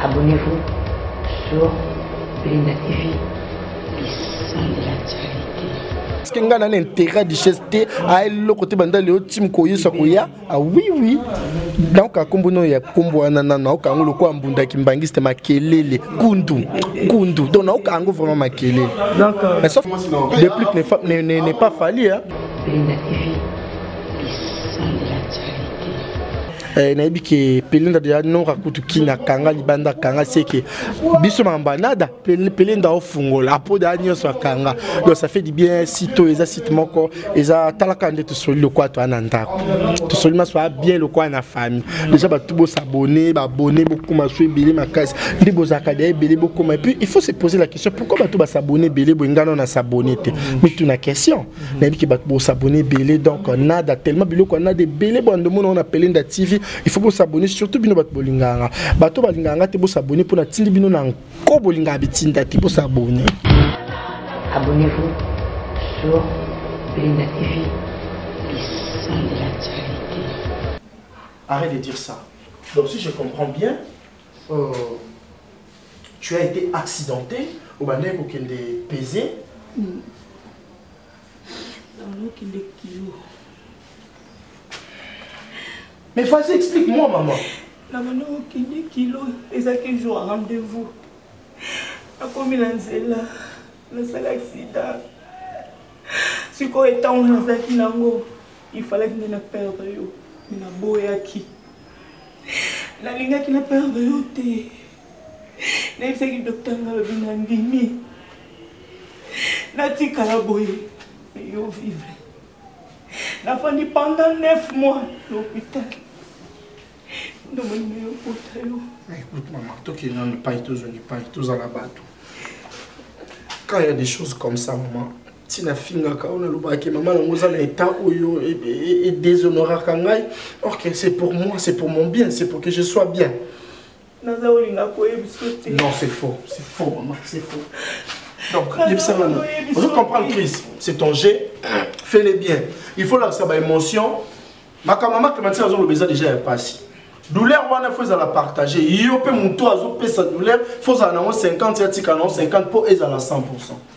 Abonnez-vous sur Belinda TV, le sang de la charité. Est-ce que nga na intérêt du chef te a eloko te banda leo tim ko yesa ko ya ah oui oui donc akombo no ya kombo wana na na okango loko ambunda kimbangiste makelele kundu kundu donc na okango vraiment makelele donc euh, mais sauf le plus n'est pas n'est pas fallu hein eh, nayebi ke pelenda deja nora kutu kini akanga libanda akanga seke biso makambo anada pelenda ofungola apo deja nyonso akanga donc ça fait du bien site oyo eza site moko eza talaka nde tosoli lokola toya na ndako tosoli maso aya bien lokola na famille deja bato bosabone babone bokoma so ebele makasi nde bozalaka deja ebele bokoma epuis il faut se poser la question pourquoi bato basabone ebele boye ngana na sabone te mituna question Mhm. nayebi ke bato bosabone ebele donc nada tellement biloko ya nada ebele bwando mona wana pelenda tv il faut bosabone surtout bino bato bolingaka nga bato balingaka nga te bosabone mpo natindi bino na nko bolingaka bitinda te bosabone abonnez-vous sur pelenda tv lissan de la charité arrête de dire ça donc si je comprends bien euh... tu as été accidenté obandaki kokende pese hmm. okende kilo mais vas-y explique moi maman na banda okende kilo ezalaki jour ya rendez-vous nakomi na nzela nasala accident sikoyo ntango nazalaki nango ifalaki nde na perdre yo me naboyaki nalingaki na perdre yo te nayebisaki docteur nalobi nandimi natikala boye yo vivre nafandi pendant 9 mois na hôpital ndomoni yo kota yo écoute mama tokende nanu epai tozongi epai tozala bato quand il y a des choses comme ça maman ti nafingaka oyo nalobaka ke mama nango oza na etat oyo edéshonoraka ngai or que c'est pour moi c'est pour mon bien c'est pour que je sois bien naza olinga koyebisa te non c'est faux c'est faux mama c'est faux donc yebisa nano ozo comprendre crise c'est ton jet fais le bien il faut lakisa baémotion makambo mama clémentine azoloba eza déjà ya mpasi douleur wana fo ezala partage yo mpe moto azopesa douleur fo ozala nango 50 ya tika nango 50 mpo ezala 100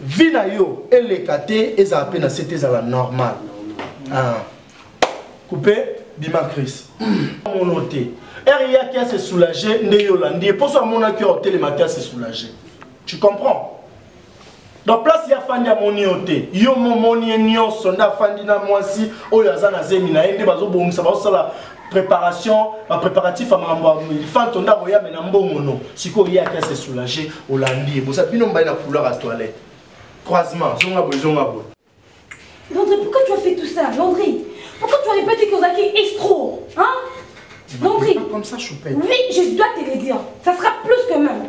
vie na yo eleka te ezala mpe na se te ezala normal ah. coupe bima cris mono te ere yaki ase soulage nde yo olandi ye mposo amonaki yo otelema te ase soulage tu comprends donc place ye afandi amoni yo te yo momoni ye nyonso nde afandi na mwasi oyo aza na zemi na ye nde bazobongisa bazosala préparation ba préparatif ya makambo ya elefanto nde akoya me na mbongo no sikoyo ye ake se soulage olandi ye boza bino mbai na couloir ya toilette croisement zonga boye zonga boye Landry, pourquoi tu as fait tout ça, Landry Pourquoi tu as répété que Ozaki est escroc Hein Landry Comme ça, Choupette. Oui, je dois te le dire. Ça sera plus que même.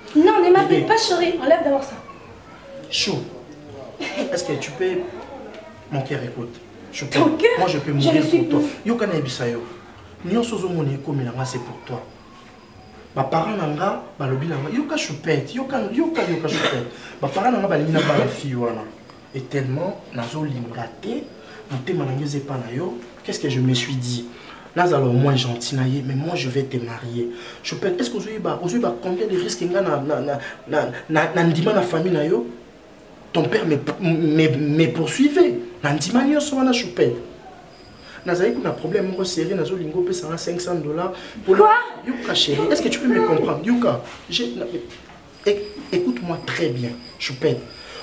Non, ne m'appelle pas chérie. Enlève d'abord ça. Chou, est-ce que tu peux... Mon cœur écoute. Je peux... Ton cœur Moi, je peux mourir je pour toi. Yo, kana ebisa yo. Nyonso ozomona ekomi na nga, c'est pour toi. baparent na nga balobi na nga yoka choupete yoka yoka yoka choupete baparent na nga balingi na bala fille wana et tellement nazo linga te motema na ngai eza epa na yo qu'est ce que je me suis dit nazala au moins gentil na ye mais moi je vais te marier chopin est ce que ozoyeba ozoyeba combien de risque nga na, na, na, na, na, na ndima na famille na yo ton père me, me, me poursuivait na ndima nyonso wana chopin nazali kuna problème moko série nazolinga opesanga 500 dollars quoi yoka chérie est ce que tu peux me comprendre yoka Écoute-moi très bien, Choupette.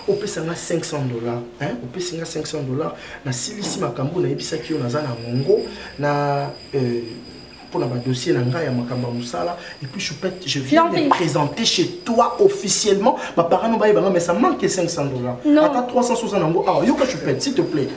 opesa nga 500 dollars hein? opesi nga 500 dollars nasilisi makambo nayebisaki yo naza na mongo na euh, mpona badossier na ngai ya makambo ya mosala epuis choupette je viens de présenter chez toi officiellement baparano bayebanga mais ça manque 500 dollars ata 360 yango awa yoka choupette s'il te plaît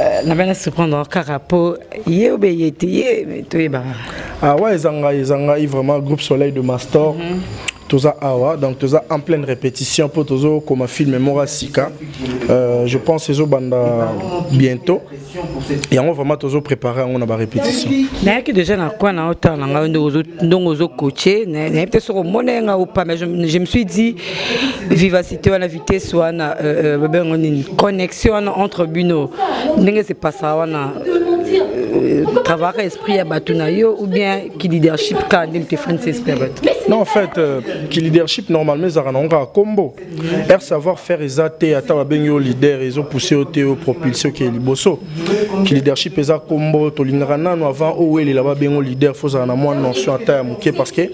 Euh, na bana surprendre kaka po ye obe ye te ye toyebaka ah ouais eza ngai eza ngai vraiment groupe soleil de mastor mm -hmm. toza awa donc toza en pleine répétition mpo tozokoma filme moko ya sika euh, je pense ezobanda bientôt yango vraiment tozo prépare yango na barépétition nayaki déjà na koi na otala na ngai ndongo ozokoche nayebi te soki omona ye ngai opa mais je me suis dit vivacité wana vitesse wana babengo euh, euh, nini connexion wana entre bino ndenge sepasaka wana euh, travaillaka esprit ya bato na yo ou bien ki leadership kaka nde motefani se esprit ya bato non en fait ki leadership normalement ezalaka nango kaka kombo Air savoir faire eza te ata babengi yo leader ezo pousser yo te yo propulse okeye liboso ki leadership eza kombo tolingaka nano avant owelela babengo leader fo ozala na mwa notion ata ya moke parce que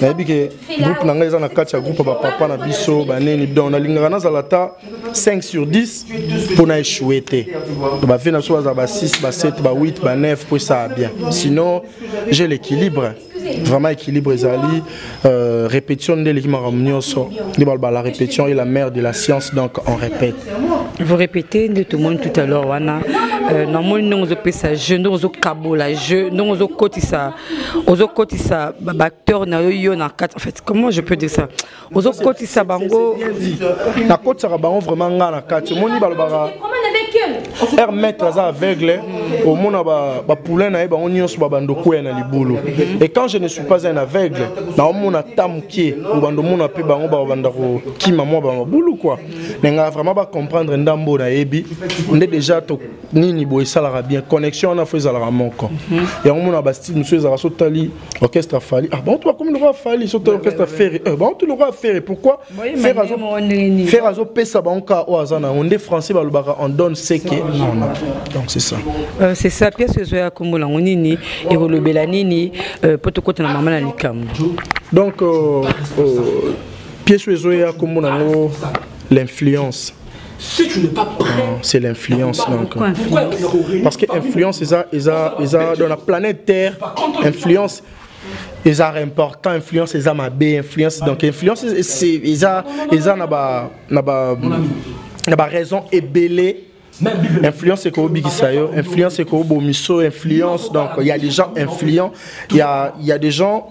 nayebi ke groupe na ngai eza na kati ya groupe ya bapapa na biso baneni donc nalingaka nazala ata 5 sur 10 mpo na échouer te bave na biso bazala ba 6 ba 7 ba 8 ba 9 mpo esaa bien sinon j'ai l'équilibre vraiment équilibre ezali euh, répétition nde eleki makambo nyonso nde baloba la répétition est la mère de la science donc on répète vous répétez nde tomoni tout à l'heure wana euh, namoni ndenge ozopesa jeu ndenge ozokabola jeu ndenge ozokotisa ozokotisa baacteur na yo yo na kati en fait comment je peux dire ça ozokotisa bango nakotisaka bango vraiment nga na kati omoni balobaka air maître aza aveugle omona bapoulain na ye bango nyonso babando kweya na libulu et quand je ne suis pas un aveugle naomona ata moke obando omona mpe bango babanda kokima mwa bamabulu kua na ngai vraiment bacomprendre ndambo nayebi nde déjà to nini boye esalaka bien connexion wana fo ezalaka moko yango omona bastyle mosusu ezalaka sotali orchestre ya fali ah bantu bakomi lokola fali soki to orchestre ferre eh, bantu lokola ferre pourquoi ferre azopesa bango kaka oyo aza na yango nde français balobaka en donne seke donc c'est ça euh, c'est ça pièce oyo ezoya kombo nango nini ekolobela nini euh, mpo tokota na mama na likambo donc euh, pièce oyo ezoya kombo nango l'influence si tu n'es pas prêt ah, c'est l'influence donc parce que influence eza eza eza dans la planète terre influence eza important influence eza mabe influence donc influence eza eza na ba na ba na ba raison ebele influence eko obikisa yo influence eko obomiso influence donc il y a des gens influents il y a il y a des gens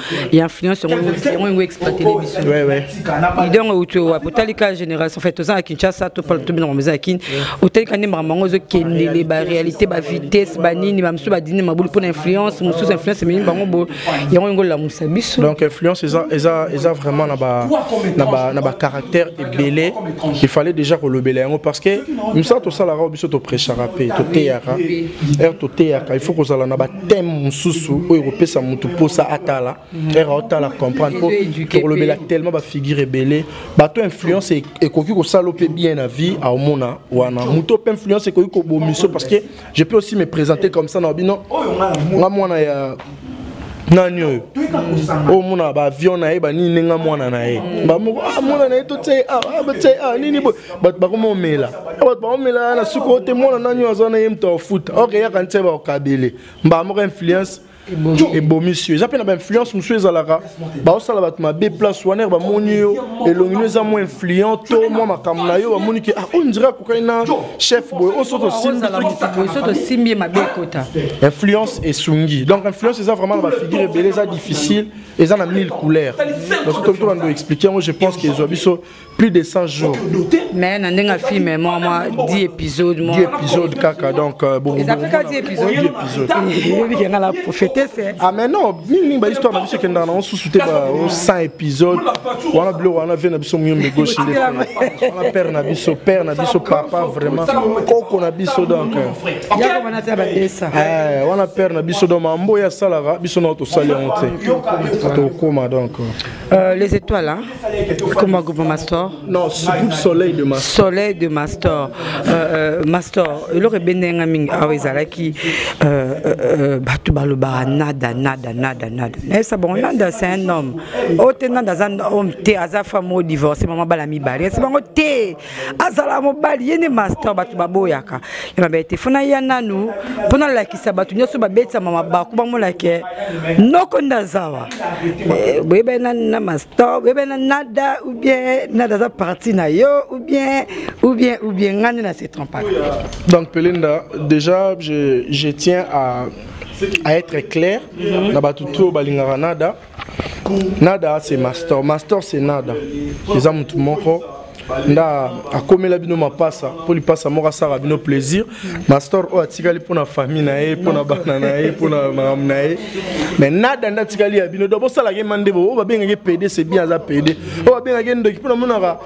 ya influence yango yango exploite les biso idée yango euti wapi otali ka génération en fait toza na kinshasa tobina bango eza ya kin otali ka nde makambo yango ezokendele baréalité bavitesse banini bamosusu badini mabulu mpo na influence mosusu influence ememi bango bo yango yango olamusa biso donc influence eza vraiment na bacaractère ebele il fallait déjà kolobela yango parce que mosala tosalaka biso toprechaka mpe toteyaka heure toteyaka il faut kozala na teme mosusu oyo ekopesa motu mposa atala ere otala comprendre mpo tokolobela tellement bafigure ebele bato influence e-, ekoki kosala mpe bien na vie aomona wana moto mpe influence ekoki kobomiso parce que je peux aussi me présenter comme ça na bino nga mwana ya nani oyo oyo mona baavion na ye banini nga mwana na ye bamoko ah, mwana na ye totie awa ah, ah, nini boye bato bakomomela bato bakomela na suka ote mwana nani oyo aza na ye moto afuta oke yaka nse bakokabele mbala moko influence ebomisi yo eza mpe na bainfluence mosusu ezalaka baosala bato mabe place wana bamoni yo elongi no eza mwa influent to mwa makambo na yo bamoni ke ah, oyo ndire akokani na chef boye oyo soki tosimbi ye mabe ekota influence esungi donc influence eza vraiment na bafigure ebele eza difficile eza na mille couleur donc soki tobanda oexplike yango je pense ke ezwa biso plus de 100 jours mais na ndenge afilme mwa mwa 10 épisode mwa 10 épisode kaka donc euh, bon eza kaka 10 épisode 10 épisode yebi kenga la prophète c'est ah mais non mingi mingi ba histoire na biso kenda na on sous te ba 100 épisode wana bilo wana vie na biso muyombe gauche nde wana père na biso père na biso papa vraiment koko na biso donc euh. yako bana ta ba desa eh wana père na biso donc mambo ya salaka biso na to sali on te to koma donc euh, les étoiles hein Comment groupe Mastor Non, ce groupe Soleil de Mastor. Soleil de Mastor. Euh, euh, Mastor, eloko ebende nga mingi awa ah ezalaki euh, euh, bato balobaka nada nada nada nada. Nayebisa bango nada c'est un homme. Oyo oh, te nada aza homme te aza femme oyo divorce mama bala mibale. Yebisa bango te azala mobali ye nde master bato baboyaka ya mabe te fona ya nanu mpo nalakisa bato nyonso babetisama mabaku bamona ke noko nde azawa eh, boyebani na, na master boyebani na nada ou bien nada aza parti na yo ou bien ou bien ou bien ngai nde na se trompaka donc pelenda déjà je, je tiens à, à être clair na bato to balingaka nada nada c'est master master c'est nada eza motu moko nda akomela bino mapasa mpo lipasa moko asaka bino plaisir mastor oyo atikali mpo na famille na ye mpo na bana na ye mpo na makambo na ye mais nada nde atikali ya bino do bosalaka ye mande bo oyo babengaki pede c'est bien aza pede oyo babengaki ye ndoki mpo namonaka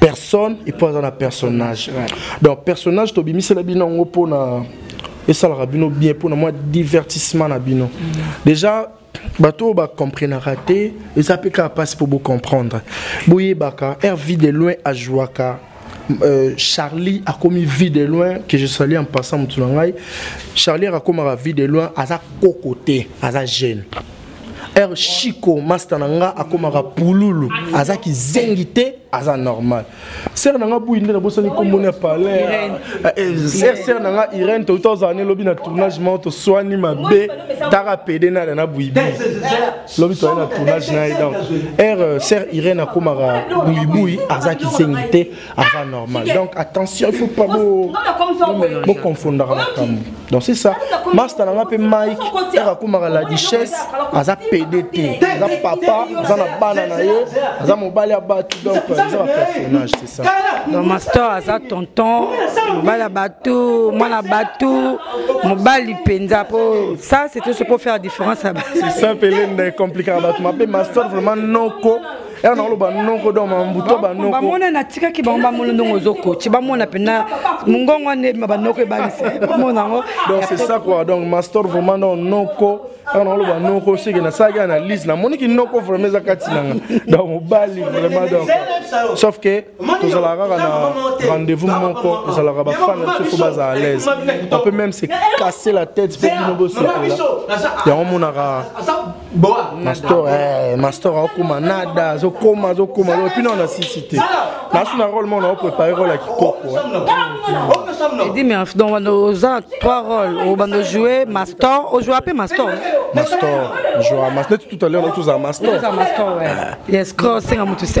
personne et puis aza na personnage donc personnage tobimisela bino yango mpona esalaka bino bien mpona mwa divertissement na bino déjà bato oyo bacomprenaka te eza mpe kaka mpasi mpo bocomprendre boyebaka rv de loin ajouaka Euh, Charlie a commis vie de loin que je salue en passant Mutsunangai. Charlie a commis vie de loin à sa cocoté, à sa gêne. heure chico masta na nga akomaka pululu aza kizengi te aza normal sere na nga buyi nde nabosani nkomboni ya palais eh, eh, sere sere na nga irene touti ozala ne lobi na tournage moko toswani mabe taka pede nada na buyibi lobi toyai na tournage na ye donc heure sere irene akomaka buyibuyi aza kizengi te aza normal donc attention il faut pas bo bo confondaka makambo donc c'est ça masta na nga mpe mike aka akomaka la duchesse aza pede te aza papa aza na bana na ye aza mobali ya bato donc aza bapersonnage c'est ça donc master aza tonton mobali ya bato mwana bato mobali mpenza mpo ça c'est tout ce pour faire différence c'est ça mpe lenda ecomplikaka bato mabe master vraiment noko ela nakoloba noko do mambuto banoko bamona natikaki bango bamona ndongo ozokoci bamona mpena mongongo wana ebima banoko ebangisi bamona yango donc c'est ça quoi donc master vraiment donc noko ela nakoloba noko seke nasalaki analyse namoniki noko vraiment eza kati nanga donc mobali vraiment donc sauf que tozalaka kaka na rendez-vous moko ezalaka bafan na biso fo baza à l'aise on peut même se casser la tête mpo bino bosepela yango monaka mastor eh, mastor akoma nada azokoma azokoma epi nao na sisi te nasu na role mona oprépare role ya kikoko eh. edi merf donc banda oza trois role obanda ojoue mastor ojoua mpe mastor mastor joa mas neti tout à l'heure tozala mastor yes cro senga motu se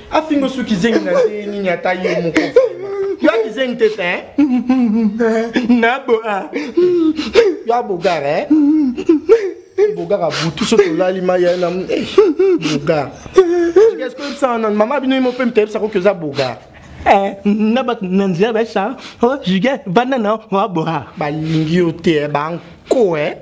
afingo su kizengi na nde nini ata ye moko yo akizengi te te naboa yo abogar e bogar abutu so tolali mai ya na eh, bogar est-ce que oyebisa wana mama bino ye mo mpe mita yebisa koki oza bogar eh, na bato na nzela basa o oh, juge vanda na oaboha balingi yo te eh, banko e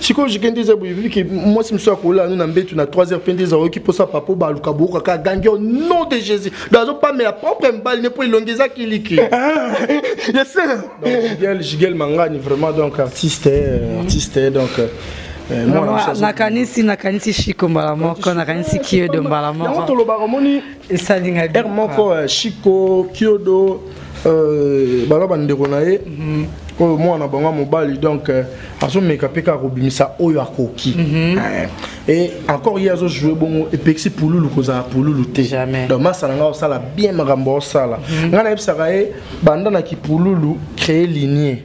sikoyo jike nde eza boyebiki mwasi mosusu akolela no na mbetu na 3 heures mpe nde ezaoyoki mposa papa baluka boyoka kaka gangi au nom de jésus do azopamela propre mibali ne mpo elongi eza kiliki jigel mangani vraiment donc artiste artiste donc euh, Eh, nakanisi nakanisi shiko mbala moko nakanisi kiyodo mbala moko esalinga heure moko euh, chico kiodo euh, bana bandeko na ye mhm. oyo mwana bango ya mobali donc euh, azomeka mpe kaka kobimisa oyo akoki mhm. eh, e encore ye azojoue bongo epekisi pululu kozala pululu te donc masala ngai osala bien makambo osala mhm. ngai nayebisaka ye banda na kipululu créer linie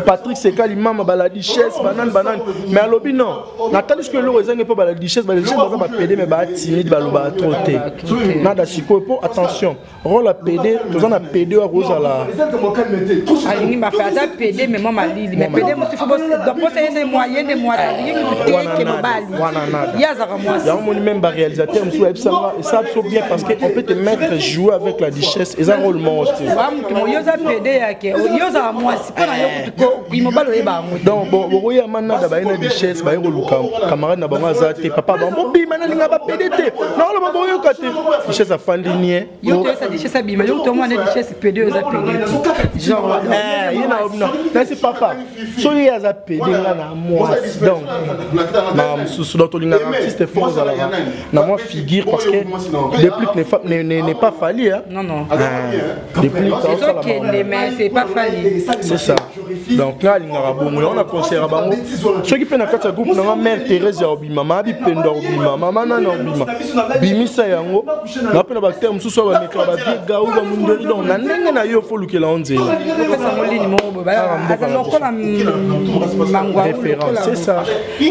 patrick sekali mama baladichesse banani banani mais alobi non natali soki eloko ezangi mpo baladichesse baladichesse baza bapede mais baatimide balobaka tro te nada sikoyo mpo attention role ya pede toza na pede oyo akozala alingi bafe aza pede mais mwa malili mais pede mosusu posa yende mwa yende mwa alingi kuteke mobali ye azaka mwasi yango moni meme baréalisateur mosusu ayebisanga esa biso bien parce que on peut te mettre jouer avec la duchesse eza role moko te yo oza pede yake yo ozala mwasi mpo na yo eh. mobali oyeba yango donc bokoya manada baye na duchesse baye koluka camarade na bango aza te papa bango bobima nalinga bapede te naoloba boyoka te duchesse afandi nie yo toyesa duchesse abima yo tomwana duchesse pede oza pede eh, ye nasi papa soki ye aza pede nga na mwasi donc makambo mosusu donc tolingaka artiste fo ozalaka na mwa figure parce que déplic n'est ne, ne, ne pas falli hein non non euh, déplic aosala c'est ça donc nga alingaka bongo yango na concert bango soki mpe na kati ya groupe nanga mère thérèse ya obima ma bipendo ya obima mama nani ya obima bimisa yango na mpe na bacteur mosusu oyo bamekaka bavie gau bamundeli donc na ndenge na yo fo olukela yango nzela référence c'est ça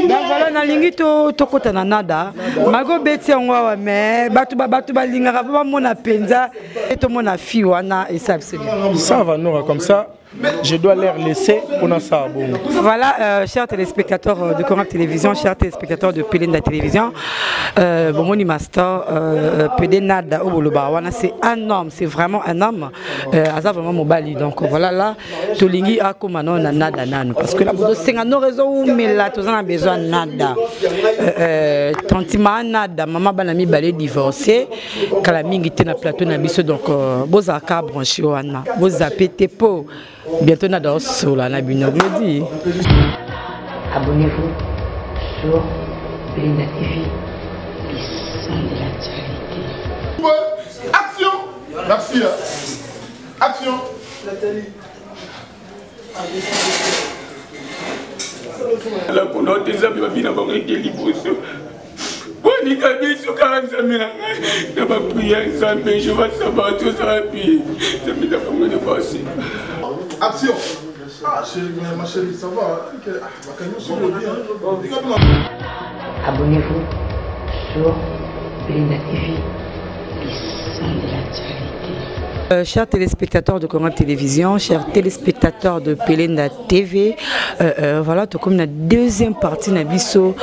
donc voilà nalingi tokota na nada mago beti yango awa mais bato bato balingaka mpo bamona mpenza e tomona fi wana esabsava nora comme ça je dois leur laisser pour na ça bon. Voilà, euh, chers téléspectateurs euh, de Corap Télévision, chers téléspectateurs de Pelenda Télévision, euh, bon, mon master, euh, euh Pedenada Oboloba, c'est un homme, c'est vraiment un homme, euh, Aza vraiment Mobali, donc voilà là. tolingi akoma nao na nada nanu parce que tozosenga nor ezowumela toza na besoin nada euh, euh, tantima nada mama bana mibale divorce kala mingi te na plateau na biso donc euh, bozalaka branche wana bozape te po bientôt nada osola na bino biodi abonnez-vous sur Linda TV le sang de l'actualité action merci Action Nathalie. La kono te nzambe babina bango ete liboso bolinga biso kaka nzambe na ngai na bapriere nzambe jehova sabato ozala pi nzambe na bango na basi action ah chérie ma chérie ça va Abonnez-vous sur Belinda TV, le sang de l'actualité. Euh, chers téléspectateurs de Congo Télévision, chers téléspectateurs de Pelenda TV, euh, euh, voilà, tout comme la deuxième partie na biso,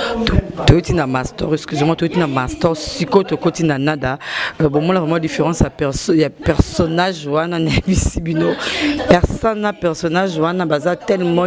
tout na master, excusez-moi, tout na master, siko to koti na nada. Euh, bon, moi la vraiment différence à perso, il y a personnage wana na bisibino. Personne na personnage wana baza tellement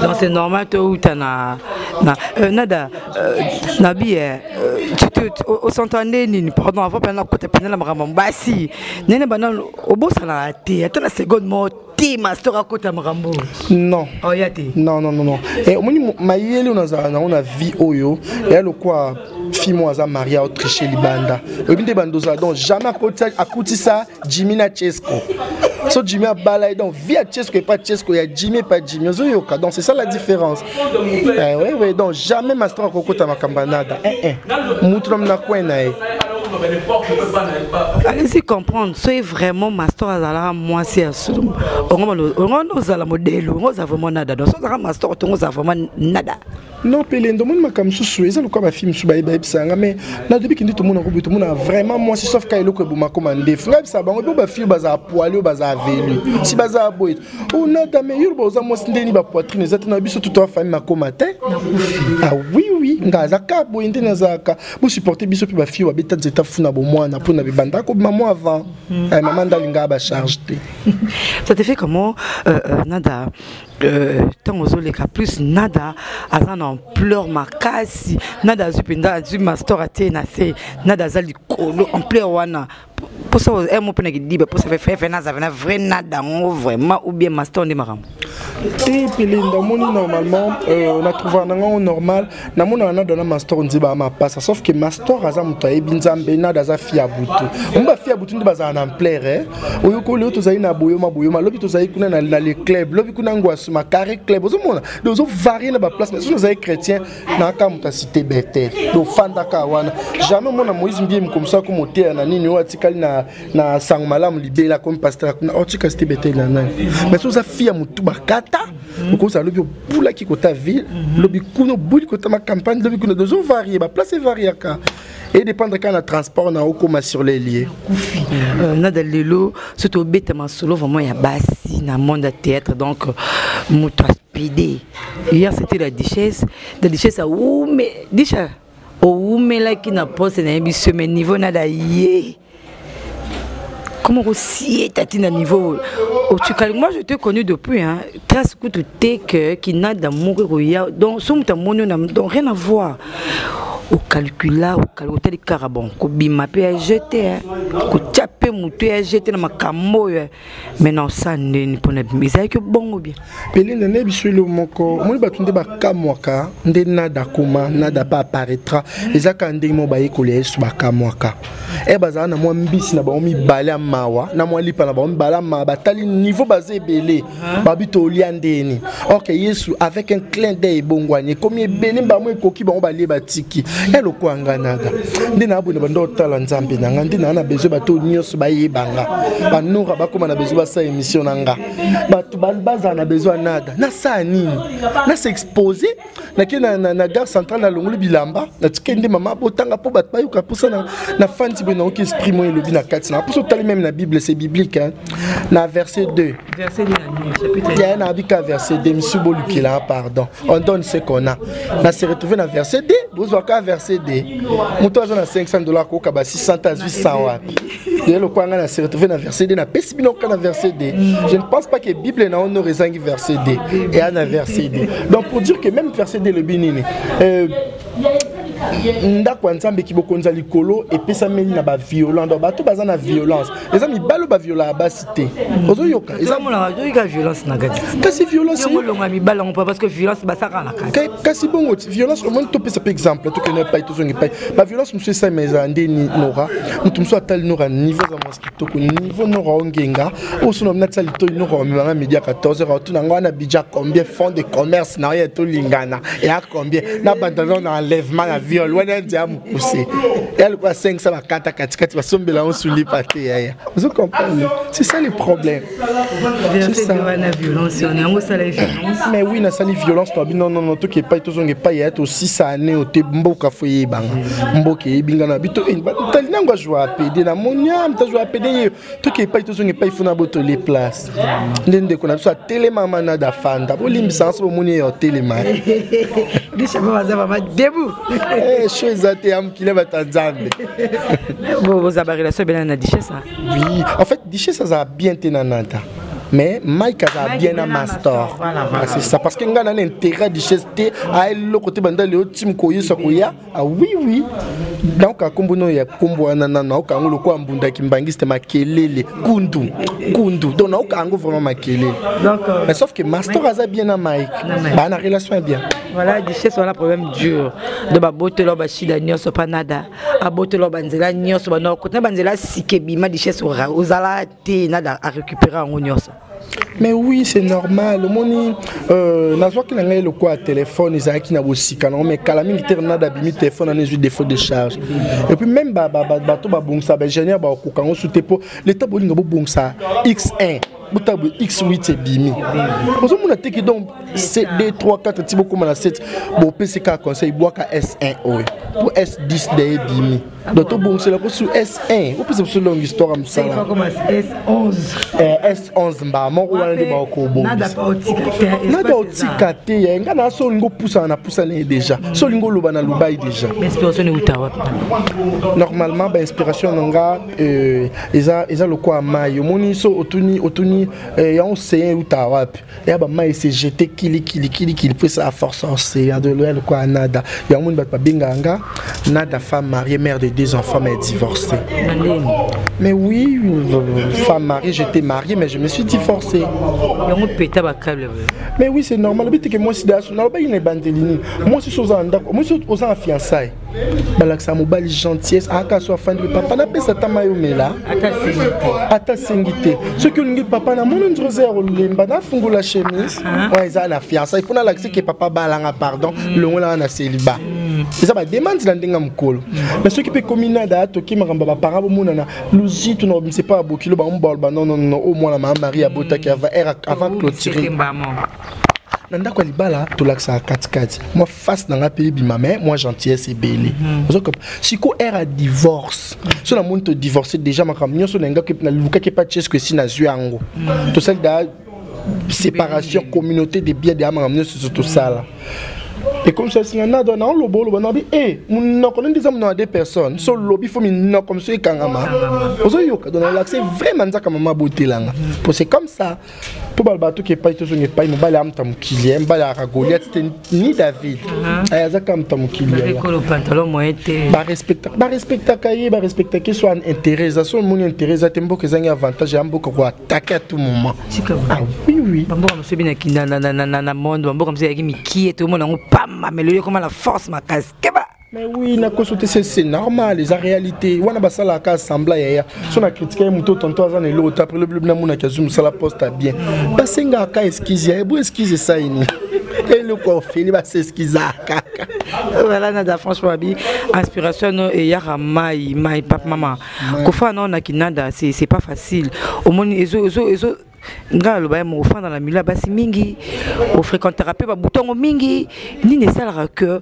Donc c'est normal toi ou t'as na, na euh, nada euh, nabi euh, tu te au s'entendait nini pardon avant pendant que t'as pendant la maman bah si nene banal au bout ça la té attends la seconde mot té ma stora kota marambo non oh y'a té non non non non et au moins ma yeli on a on a vie oyo et le quoi fille moko aza maria autriche libanda oyebi nde bando ozala donc jamais akutisa jimmy na chesco so jimmy abala ye donc vie ya chesco epa chesco ya jimmy epa jimmy ozoyoka donc c'est ça la différence eh, oui, oui, donc jamais mastor akokota makambo ya nada eh, eh. mutu na munakwe na ye alesi comprendre soki vraiment mastor azalaka mwasi ya solo ongo ozala modelu ongo oza vraiment nada donc so ozalaka mastor tongo oza vraiment nada non pele ndo moni makambo mosusu eza lokola bafilme mosusu bayeba yebisa nga mais nadobi kende tomona koboye tomona vraiment mwasi sauf ka eloko eboma koma ndefu nga yebisa bango bo bafilme bazala poili oyo bazala velu si bazala boye onada mais yoloba oza mwasi ndeni bapoitrine eza te na biso tutoa famille makoma te ah oui oui nga aza ka boye nde nazalaka bosupporte biso mpe bafilme babeta nzeta funa bomwana mpo na bibanda kobima mwa avant hmm. eh, mama ndalingaa bacharge te ça te fait comment euh, euh, nada Euh, ntango ozoleka plus nada aza na ampleur makasi nada azwi mpenza azwi mastor atie na se nada aza likolo ampleur wana mposa eh, mo mpe na kidiba mposa fefefe naza na vrai nada yango vraiment ou bien mastor nde makambo te mpe linda omoni normalement euh, na trouva na ngango normal namonaka nado na mastor nzeba ya mapasa sauf ke mastor aza moto ayebi nzambe nado aza fi ya butu omo bafi ya butu nde bazala na amplere eh? oyokoli oyo tozali na boyoma boyoma lobi tozali kuna na le club lobi kuna ngwasuma carré club ozomona de ozovarie na baplace mais soki ozali chrétien naaka moto asite betel de ofandaka wana jamais omona moïse mbie mikomisa ko moteya na nini oyo atikali na, na sango malamu libela komi pasteur kuna otika oh, site betel na nani mais soki oza fi ya motu bakata mm. okozala lobi obulaki kota ville mm -hmm. lobi kuna obuli kota ma campagne lobi kuna dozo varie baplace evariaka edépendre kaka na transport na okoma sur les lieux kufi euh, nada lelo so tobeta masolo vraiment ya basi na monde ya théâtre donc moto aspide hier c'était la duchesse la duchesse awume disha owumelaki na poste nayebi semaine niveau nada ye Comment aussi tati na niveau otikali moi je te connu depuis hein trace kutu te que kinada moko koya donc so muta moni na donc rien à voir okalkula otali kaka bon kobima mpe ya jete kotya mpe moto ya jete na makambo oyo mais na osa ndeni mpo na bimi ezalaki bongo bien pelene nayebi so elo moko omoni bato nde bakamwaka nde nada akoma nada pa apparaîtra eza kaka ndenge moko bayekoli ya yesu bakamwaka e bazala na mwa mbisi na bango mibale ya mawa na mwa lipa na bango mibale ya mawa batali niveau baza ebele babi tolia ndeni ok yesu avec un clin d'œil ebongwani ekomi ebele mbamo ekoki bango balie batiki eloko ya ngai nada nde naa boye na banda otala nzambe na ngai nde naa na besoin bato nyonso bayeba nga banora bakóma na besoin basala émission na nga bato bazala na besoin nada nasala nini nase expose nake na, na, na gare centrale nalongoli bilamba natike nde mama botanga mpo bato bayoka mposa na, na fandi boye naoki esprit moye elobi na kati na mposa otali meme na bible c'est biblique hein? na verset 2 yaya na abika verset 2 misu bolukela pardon on donne ce qu'on a na se retrouve na verset 2 bozwaka verset 2 moto aza na 500 dollar koyoka ba 600 azwi 100 wapi ye lokola ngai na se retrouve na verset d napesi bino kaka na verset d je ne pense pas que bible na honore ezangi verset d eya na verset d donc pour dire que même verset d elobi nini euh, ndako ya nzambe kibokonzi ya likolo epesameli na baviolent donc bato baza na violence eza mibali baviolaka basi te ozoyoka ezamonaka violence na kati kasi violence olonga mibala yango parce que violence basaka na kati kasi bongo violence omoni topesa mpe exemple tokende epai tozongi epai baviolence mosusu esalema ezala nde nora moto mosusu atali nora niveau eza mwasi kitoko niveau nora ongenga osona mna tia litoi nora omemanga midi ya 14 heure otuna ngai wana bidja combien fond de commerce na oyo tolingana eya combien na bandana na enlèvement ya viol wana ndia mokuse eya lokola 5 sa bakata katikati basombela yango sulipa te yaya Vous comprenez C'est ça le problème. C'est ça. La violence, on est en ça la violence. Mais oui, na sali violence toi non non non tout qui pas tout zonge pas ya to 6 années au te mboka foyer banga. Mboke binga na bito en ba tali nangwa joie à PD na monia mta joie à PD tout qui pas tout zonge pas il faut na boto les places. nde ndeko na biso atelema manada fanda bolimbisanga so bomoni ye otelema sho eza te ya mokili ya bato ya nzambe boza barelation ebelana na dichese oui en fait dichese azala bien te na nada mais mike azala bien na mastor c'est ça parce que ngai na na intérêt dichese te aeloko te banda leo tim koyesa koya Ah oui oui nayoka nkombo no ya nkombo wana nano nayoka yango lokola mbunda kimbangiste makelele kundu kundu donc nayoka yango vraiment makelele mais sauf que mastor aza bien na mike baa na relation ya bien voilà duchesse wana problème dur do babotelo bashida nyonso mpa nada abotelo banzela nyonso banokotna banzela sika ebima duchesse ozala te nada arécupere yango nyonso mais oui c'est normal omoni euh, nazwaki na ngai lokola telefone ezalaki na bosika nango mais kala mingi te renada abimi telefone ana ezwi défaut de charge et puis même bato babongisa baingénieur bakokoka yango su te mpo leta bolinga bobongisa x1 botala boye x8 ebimi ozomona te ki donc cd 3 4 ti bokóma na 7 bopesi kaka conseil bwaka s1 oyo mpo s10 de ebimi donc tobongisela ko sur s1 opesa biso longue histoire ya mosala s11 mbaa moko wana nde bakobongisa otika te ya nga na so olingi opusana na pusana ye déjà so olingi oloba na lobai déjà normalement bainspiration na nga euh, eza lokola mai omoni so otuni otuni euh, yango seyen euta wapi ya ba mai se jete kili kili kili kili mpo esala force océan de loyal kwa nada yango moni bato babengaka nga nada femme mariée mère de deux enfants mais divorcée mais oui femme mariée j'étais mariée mais je me suis divorcée yango peta bakable mais oui c'est normal obitike mwasi dayaso nalobaki na ebandeli nini mwasi so oza na ndako mwasi oza na fiançaille balakisa mobali gentillesse aka so afandi papa napesa ata mai omela ata asengi te soki olingi papa namoni nzela oza ya kolemba nafungola chemise ah. oyo eza na fiançai mpo nalakisi ke papa balanga pardon mm. longolanga na celiba mm. eza bademande na ndenge ya mokolo mm. mais soki mpe komi nada atoki makambo ya baparent bomonana luzitu na obimisa epai ya bokilo bango baloba nonono oyo mwana maa marie abotaki avant clôture na ndako ya libala tolakisaka katikati face na nga pe ebima mais moi gentillesse ebele mhm. ozo comme siko air a divorce so na moni to divorce déjà makambo nyonso na ngaki na lukaki pa chesque esi nazwi yango mhm. tosali da séparation communauté de biens de ya makambo nyonso so tosala ekomisasinga nado na oloba oloba nabi e eh, monoko nde eza monoko ya deux personnes so olobi fo minoko mosusu ekangama ozoyoka donc olakise vraiment nzaka mama botelanga po c'est comme ça mpo balo batoki epai tozonga epai mobali ya moto ya mokili ye mobali ayaka goliat te ni david uh-huh. eh, aza kaka moto ya mokilibarespectaka ye barespectaka ye so intérêt eza so omoni intérêt eza te mboka ezangi avantage ya mboka koatake à tout moment ah bamboka mosusu ebi na monde bamboka mosusu eyaki mikie toomona yango pamba melo ekoma na force makasi keba mais oui nakoso te c'est normal eza réalité wana basalaka assembla yaya so na critique ye moto tonto aza na eloko te après lobi lobi namonaki azwi mosala poste ya bien basengaka excuse ya ebo excuse esaini eloko ofeli baseskiza kaka ozala nada franchement abi inspiration no eyaka mai mai papa mama kofana nao na kinada c'est pas facile omoni ezo ezo ezo nga aloba ye moko ofanda na milo ya basi mingi ofrequentaka mpe babutongo mingi nini esalaka ke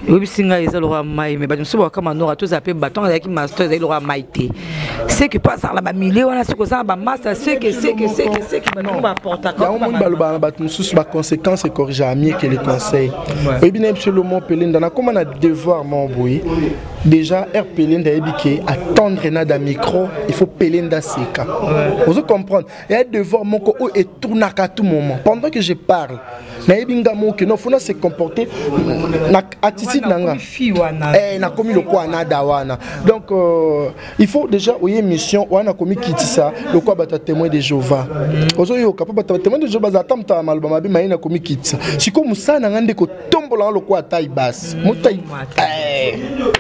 oyebisi ngai eza lokola mai me bato mosusu bakaka manora tozala mpe bato yango ezalaki master ezali lokola mai te seke mpo azala na bamilie wana soki oza na bamasta seke seke seke seke banongo baportaka yango moni balobaka na bato mosusu baconséquence ecorrigea mieke le conseil oyebi na ye biso lomo pelenda nakóma na devoir moko boye déjà heure pelende ayebi ke attendre nada micro il faut pelende aseka ozo comprendre eya devoir moko oyo etournaka tout moment pendant que je parle nayebi nga moko ke nofona se comporter na attitude na nga nakomi eh, lokola nada wana donc euh, il faut déjà oye émission oya na komikitisa lokola bato ya témoin de jehova ozoyoka mpo bato ya témoin de jehova bazala ata moto ya maloba mabe maye na komikitisa sikoyo mosala na ngai nde kotombola nga lokola tai basi motai eh.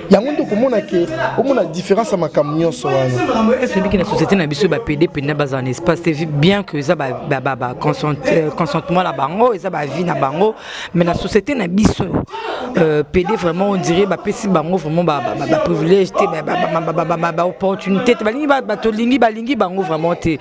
yango nde okomona ke omona différence ya makambo nyonso wana esebiki na société na biso bapede mpenza bazala na espace te bien que eza baconsentement euh, na bango eza bavie na bango mais la société na biso euh, pede vraiment on dirait bapesi bango vraiment baprivilège te baopportunité te balingi bato olingi balingi bango vraiment te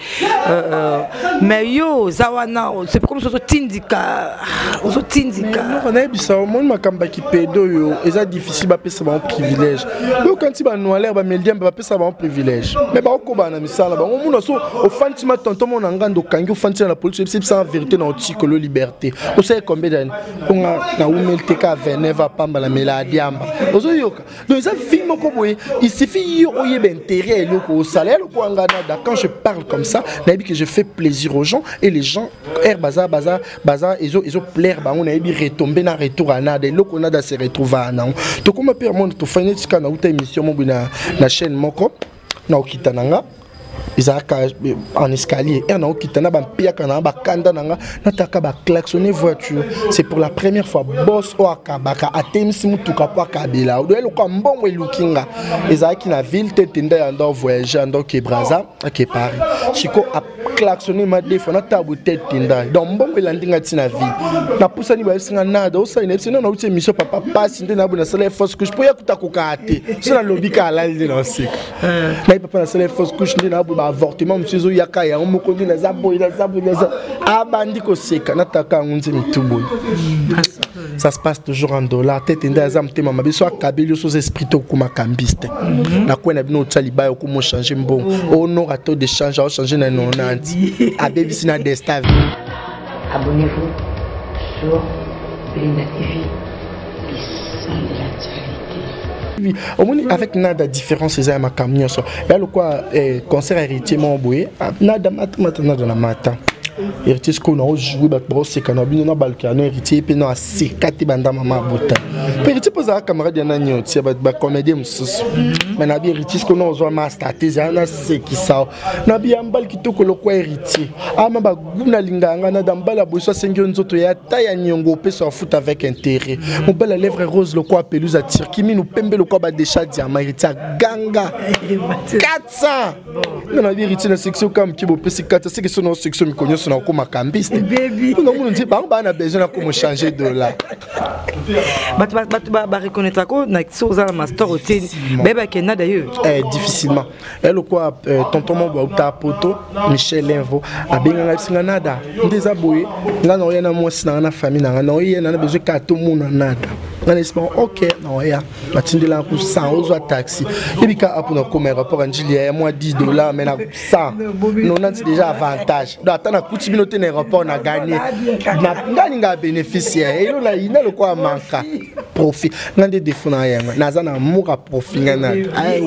mais yo oza wana c'est comme soki ozotindika ozotindika nayebisa omoni makambo ya kipede oyo eza difficile bapesa bango privilège oyokanisi banoalaire bameldiambe sa bango privilège me baokobana na misala bango omona so ofandisi ma tonton mona nga nde okangi ofandisi na polisi ebisi ebisanga verité na otikolo liberté osali combien d'année onga na umeli te ka 29 apamba na mela adiamba ozoyoka donc eza vie moko boye il suffit yo oyeba intérêt ya eloko osala ya lokola nga nada quand je parle comme ça nayebi que je fais plaisir aux gens et les gens air baza baza baza ezo ezo plaire bango nayebi retombe na retour ya nada eloko nada se retrouva nango tokoma mpe amona tofai neti kaka nauta émission moko na, na chaîne moko na okita na nga ezalaka eh, en escalier ere naokita na bampiaka na bakanda na nga nataka baclaxonne voiture c'est pour la première fois bos oyo akabaka atemisi motuka mpo akabela odoya lokola mbongo eluki nga ezalaki na ville te tenda ya ndo voyage ya ndoke braza ake paris siko klaxone madefa na tabu tete tendai donc mbongo elandi ngai ntina vie napusani bayebisi ngai nada osali nayebisi nao nauti émission papa pasi nde naboyi nasala ye fausse couche mpo ya kuta kokaa te so nalobi ka alali nde naoseka eh. ngai papa nasala ye fausse couche nde naboyi baavortement mosusu ezoyaka yango moko nde naza boyi naza boyi naza abandi koseka nataka yango nze mitu boyi ça se passe toujours en dollar tete nde aza motema mabe so akabeli yo soza esprit to okoma cambiste mhm. na kwe na bino otya libaya okoma ochange mbongo onora oh. oh, to de change aochange na nonanti abebisi na desta abonnez-vous sur Linda TV, les sons de la Oui, omoni avec nada différence eza ya makambo nyonso ya lokwa eh, concert héritier moko boye ah, nada mata mata nada na mata héritier sikoyo nao joue bato baoseka na bino na balukela no héritier mpe na aseka te banda mama abota mpe héritier mpo ozala camarade ya nani otia bacomédien mosusu mai na bi héritier sikoyo naozwa masta te ezala nasekisa na biya mbali kitoko lokwa héritier ama baguna lingaka ngai na da mbali ya boso asengi yo nzoto ya ata ya niongo opesa ya futa avec intérêt mobali ya lèvre rose lokwa pelouse ya turki minu pembe lokwa badesha diama héritier aganga 400 nga na bi héritier na section kaka moke bopesi 400 seke so na section mikolo nyonso na okoma kambiste mpona munu nzi bango baa na besoin na komo changer dollar bato bareconnaitrako na so oza na mastor otie bayebake nada yo eh, difficilement ya lokwa eh, tonton mobo auta poto michel envo abenganga biso nga nada nde eza boye nga naoya na mwasi nanga na famille nanga naoya nana bezwi kaka tomona nada nga na esima ok naoya natindelaka ku 100 ozwa taxi ebika apo nakoma aéroport ya njili ya mwa 10 dollar mai na 100 nonanti déjà avantage do ata nakuti bino te na aéroport na gagne ngai ninga bénéfice ya elo na yina lokwa manka profit nga nde defo na yanga naza na amour ya profit nga na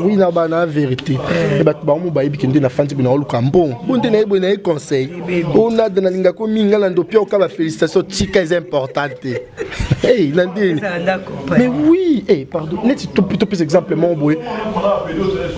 wi na bana verité e bato bango bayebi ke nde na fandi boye naoluka mbongo bo nde naye boye naye conseil o nada nalinga ko mingi nga na ndopi oka ba félicitation tika eza important te hey na ndeni mais oui hey pardon neti topesa exemple moko boye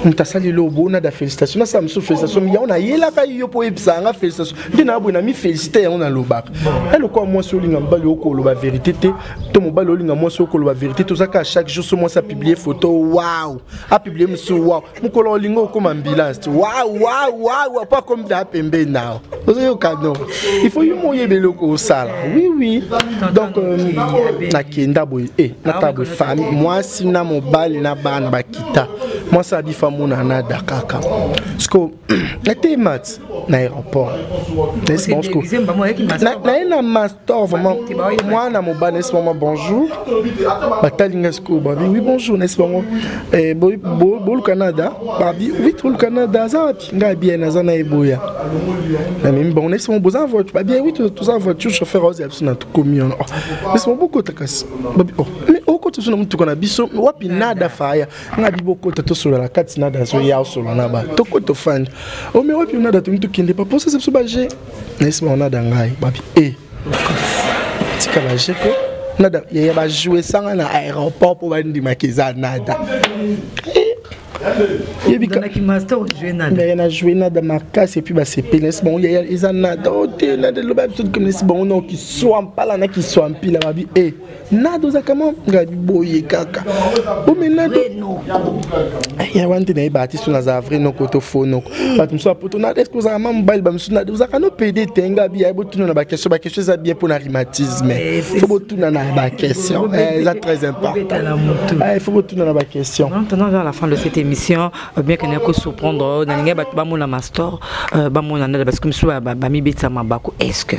moto asali lobo nada félicitation nasala mosusu félicitation yango nayelaka yo mpo oyebisa yanga félicitation nde na boye na mi félicité yango nalobaka eloko ya mwasi olinga mobali okoloba verité te to mobali olinga mwasi okoloba verité tozaka chaque jour so mwasi apiblie photo wow apiblie mosusu wow mokolo olinga okoma ambulance ti wow wow wow po akomi da pembeni nao ozoyoka no il faut yo moyeba eloko osala oui oui donc euh, nakenda boye e eh, natala boye fami mwasi na mobali na bana bakita mwasi abifa mona na dakaka siko nateye mati na aéroport naye na mas to vraiment mwana mobali nayesi bango bonjour batali ngai sikoyo babi oui bonjour nayesi bango eh, bolu canada babi oui tolu canada aza wapi ngai abia naza na eboya namemi bango nayesi bango boza voiture babi oui toza voiture chauffeur aozi ya biso na tokomi wana nayesi oh, bango bokota kasi babi oh mais okota biso na motuka na biso wapi nada faya ngai bi bokota tosolola kati nada azoya osolola na bato tokota ofandi omei oh, wapi nada tongi tokende paposa se biso baje nayesi bango nada ngai babi e tika baje mpo nada yaya bajuesanga na aéroport mpo bandimaka eza nada na joue nada makasi epuis basepeli nayesi bango yaya eza nada o te nada eloba biso tokominesi bango nao kiswa mpala na kiswa mpila babi e nado oza kama ngabi boye kaka ome nado ya wana nde nayeba artiste oyo nazala vrai noko to faux noko bato mosusu apoto na eske ozalaka ma mobali bamosusu nade ozalaka no pede te ngabi ya botuna na baquestion baquestion eza bien mpo na rhumatisme eh, fo botuna na baquestion eh, eza très important eh, fo botuna na baquestion babiaka naye kosurprendre oyo nalingai bato bamona mastor euh, bamona ndala parce que mosusu bamibetisa mabaku est ce que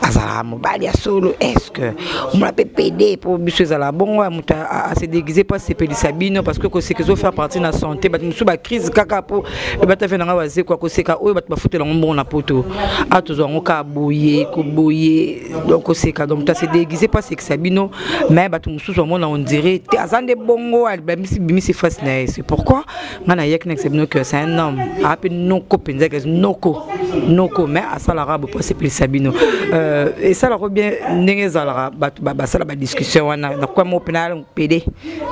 azalaka mobali ya solo est ce que omona mpe pede mpo biso ezala bongo ya moto ase déguise mpo asepelisa bino parce que koseka ezofaire partie na santé bato mosusu bacrise kaka mpo ebata fe na ngai wazekwa koseka oyo bato bafutela yango mbongo na poto a tozwa yango kaka boye koboye donc koseka donc ta se déguise mpo asekisa bino mais bato mosusu bamona ondire te aza nde bongo abimisi bimisi face na ye c'est pourquoi ngai nayaki nakisa bino que c'est un homme aa mpe noko mpenza kasi noko noko mais asalaka bo mpo asepelisa bino euh, esalaka bien ndenge ezalaka bato basala badiscussion wana nakwamo mpe pede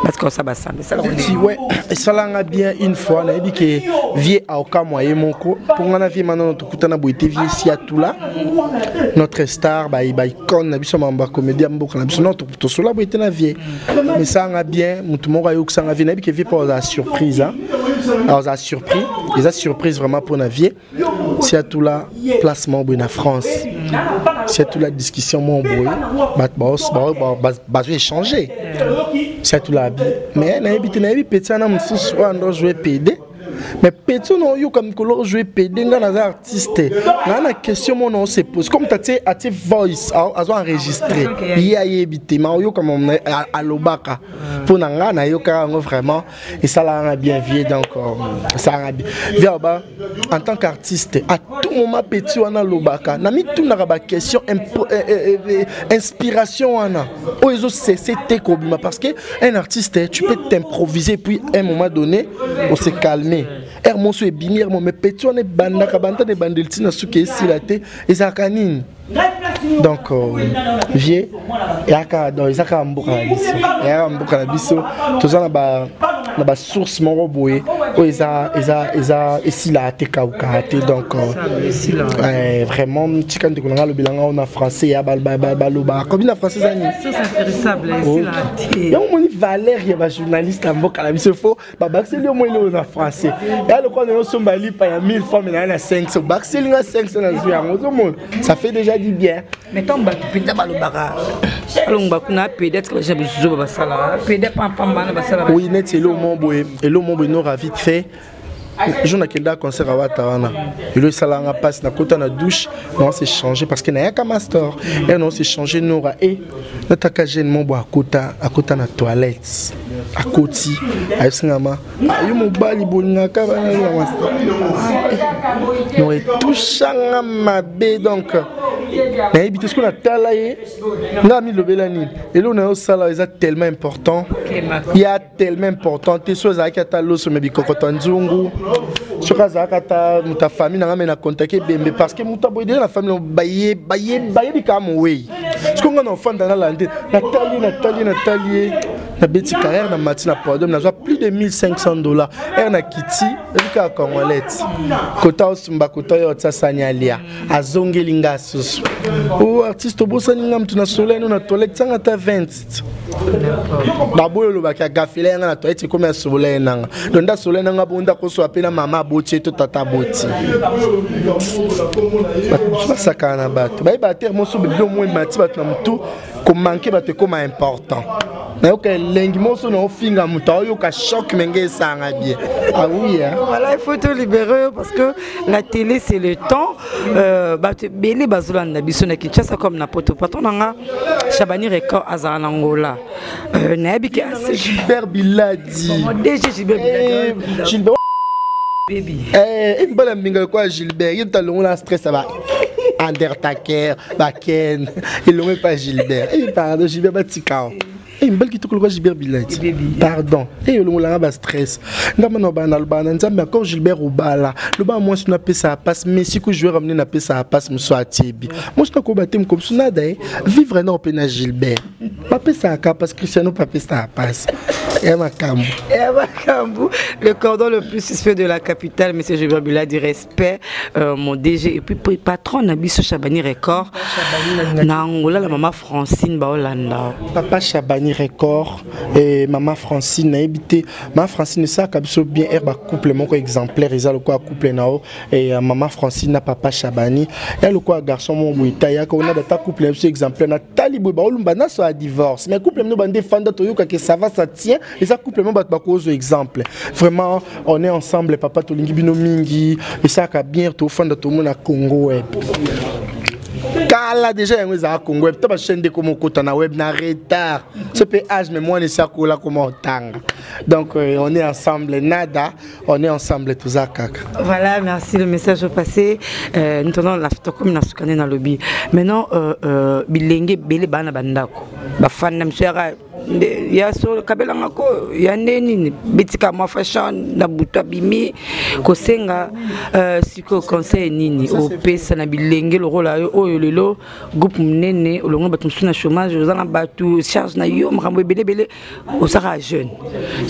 batika kosala basambe tiwe esalanga bien une fois nayebi ke vie aokamwa ye moko mpo ngai na vie manano tokutana boye te vie siatula notre star baicone na biso mambo ya comédie ya mboka na biso no tosola boye te na vie mesalanga bien motu moko ayokisanga vie nayebi ke vie mpo azala surprise azala surpris eza surprise vraiment mpo na vie siatula place moko boye na france siatula discussion moko boye bato bazo échange siatula abi mais nayebi te nayebi peti wana mosusu oyo ando joue pede mais peti oyo naoyoka mikolo ojoue pede ngai naza artiste naa na question moko nao se pose comme tatie atie voice azo enregistre ye ayebi te ma oyoka alobaka mpo na ngai nayokaka yango vraiment esalaka nga bien vie donc euh, esalaka nga bien vie aloba en tant qu'artiste à tout moment petit wana alobaka na mitunaka baquestion euh, euh, inspiration wana oyo ezosese te kobima parce que un artiste tu peux t'improviser puis un moment donné on se calmer ere moso ebimi ere mo mais petit wana ebandaka banda na ebandeli ntina suki esila te ezalaka nini donc euh, vieux yaka donc eza kaka mboka na biso yaka mboka na biso toza na ba na ba source moko boye oyo eza eza eza esila te kauka te donc euh, vraiment tika ndeko na ngai alobela ngai na français ya baloba kobi na français eza nini yango omoni valeur ya bajournaliste ya mboka na biso fo babakiseli yo mweli oyo na français ya lokola nayo osomba lipa ya 1000 fois me naye na 500 obakiseli nga 500 nazwi yango ozomona ça fait déjà du bien mais ntango bato mpenza balobaka alongba kuna apediatre baja bizuzo babasalaka peda pampambana basalaka oui neti elo mo boye elo mo boye no ravite fait jour nakenda concert ya wata wana elo esalanga mpasi nakota na douche nao se change parce que nayaka master ere nao se change nora e nataka jeune mo bwa akota akota na toilette akoti ayebisingama ayo mobali bolingaka bananaa no etushanga mabe donc nayebi te soki natala ye ngai amilobela nini eloko na yo osala eza tellement important ya tellement important te soki azalaki ata loso me bikokota nzungu soki azalaki ata moto ya famille nanga me na contacte ebembe parce que moto aboye deja na famille bayebi kaka mowei soki ngai na ofanda nalande natali natali natali ye nabeti carrière na mati na podium nazwa plus de 1500 dollars ere na kiti ebikaka congolete kota osumba kota oyo otya sani alia azongeli ngai susu o oh, artiste obosani ngai moto na sola eno na tolek tianga ata 20 toilette baboyi olobaki agafela yanga na toilette ekomi asolola ye nanga donc nde asolola ye nanga bongo nde akosola mpe na mama aboti ye to tata aboti basakana na bato bayeba te moso bebilo mwa emati bato na motu komanke bato ekoma important nayoka elengi moso naofinga moto aoyoka choc menge esanga bie awuya ah ah. voilà il faut to libere yo parce que la télé c'est le temps euh, bato ebele bazolanda biso na kinshasa comme na poto patron na nga chabani record azala na ngola euh, nayebi ke gilbert biladi dg gilbert biladi mbala mbinga lokola gilbert ye moto alongola stress aba undertaker baken elongo epa gilbert eh, pardon gilbert batikao Hey, mbali kitoko lokola gilbert bilati pardon ey hey, olongolanga bastress nga mana obana nalobaka na nzambe encore gilbert obala lobaka mwasi no apesaka mpasi mais siku joueur amine napesaka mpasi mosusu atiebi mwasi no akoyeba te mokomisu nada ye vivre nao mpe na gilbert bapesaka mpasi cristiano mpe apesaka mpasi ya makambo ya makambo le cordon le plus suspect de la capitale monsieur gilbert biladi respect respect euh, mon DG et puis patron na biso Chabani Record na Angola la maman Francine Baolanda papa Chabani Record et maman Francine na ebité maman Francine ça ka biso bien herba couple moko exemplaire eza le quoi couple nao et euh, maman Francine na papa Chabani ya le quoi garçon mon buita ya ko na ta couple na biso exemplaire na talibo baolumba na so a divorce mais couple no bande fanda toyoka que ça va ça tient eza couple mo bato bakozwa exemple vraiment on est ensemble papa tolingi bino mingi esalaka bien tofanda tomona congo web kala deja yango ezalaka congo web ta bachaine ndeko mokota na web na retard so mpe age me mwana esi akola koma otanga donc euh, on est ensemble nada on est ensemble toza kaka voilà merci le message passé euh, ntona na tokomi na sukani na lobi maintenant euh, euh, bilenge ebele baa na bandako bafanda miso yaka ya solo kabela nga ko ya nde nini bitika mwa fashion na butu abimi kosenga uh, sikoyo conseil nini opesa na bilenge lokola yo oyo lelo groupe monene olongo bato mosusu na chômage oza na bato charge na yo makambo ebeleebele ozaka jeune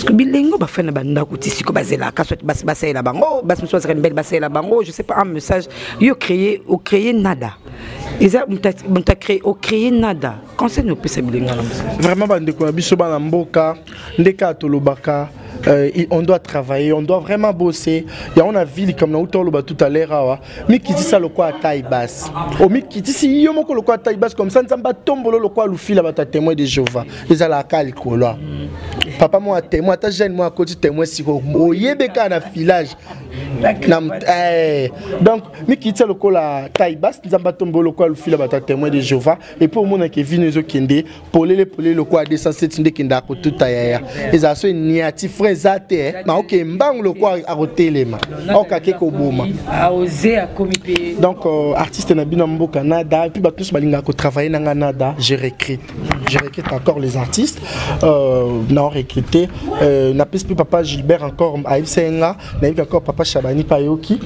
parceke bilenge oyo bafai na bandako ti sikoyo bazelaka soit basi basalela bango basi mosusu bazaka mibali basalela bango je sais pas un message yo créer ocréer nada eza moto ocréer nada conseil nini opesa bilenge na mosala vraiment bandeko na biso bana mboka nde kaka tolobaka euh, on doit travailler on doit vraiment bosser yango na vie likambo na uta oloba tout à l'heure awa mikitisa lokola taille basse omikitisi yo moko lokola taille basse comme ça nzambe atombolo lokola lufila bato ya témoin de jéhovah ezalaka kaka likolo awa papa moko ya témoin ata jeune moko akoti témoin siko oyebe kaka na filage na eh, donc mikitisa lokola taille basse nzambe atombolo lokola lufila bato ya témoin de jéhovah et puis omona ke vino ezokende polele polele lokola 207 nde ekenda akotuta yaya ezala so eniati frai eza te eh. na oke mbangu lokola akotelema okake koboma donc euh, artiste na bino ya mboka nada epuis bato nyonso balingaka kotravaille na ngai nada je recrute je recrute encore les artistes euh, na recrute euh, napesi mpe papa gilbert encore ayebisaki nga nayebi kaka papa shabani mpe ayoki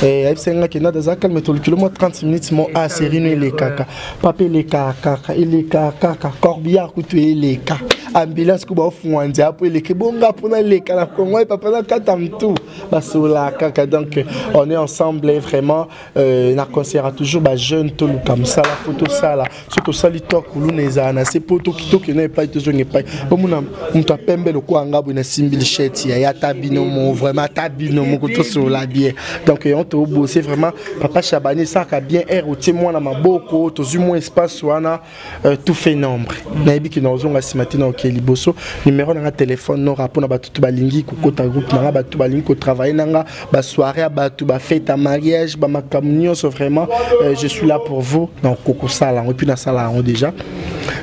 eh, ayebisaki nga kenda daza calme tolukilo mwa 30 minutes mo a ah, série no elekaka papa elekaka kaka elekaka kaka corbillard kutu eleka ambulance kuba ofungwa nzela mpo eleka ebonga mpo naleka na kongo ye papa nakata mtu basolaka kaka donc on est ensemble vraiment Euh, na concert ya toujours bajeune toluka mosala fo tosala soki tosali to kuluna ezala na se mpo tokitoki na epai tozonga epai omona moto ya pembe lokola nga boye nasimbi lishete ya ye ata bino mo vraiment ata bino moko tosolola bien donc yango tobose vraiment papa chabani esaka bien aire otie mwana maboko tozwi mwa espace wana Euh, tout fait nombre nayebi ke nakozonga nsima te naokee liboso numero na nga telefone nora mpo na bato to balingi kokota groupe na nga bato balingi kotravaille na nga basoire ya bato bafete ya mariage bamakambo nyonso vraiment euh, je suis là pour vous nakokosala yango epuis nasala yango déjà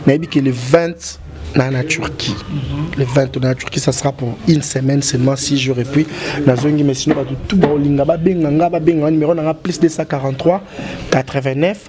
nayebi ke le 20 na na Turquie. Le 20 na Turquie ça sera pour une semaine seulement 6 jours et puis nazongi mais sinon tout ba olinga ba benga nga ba benga numéro na plus 243 89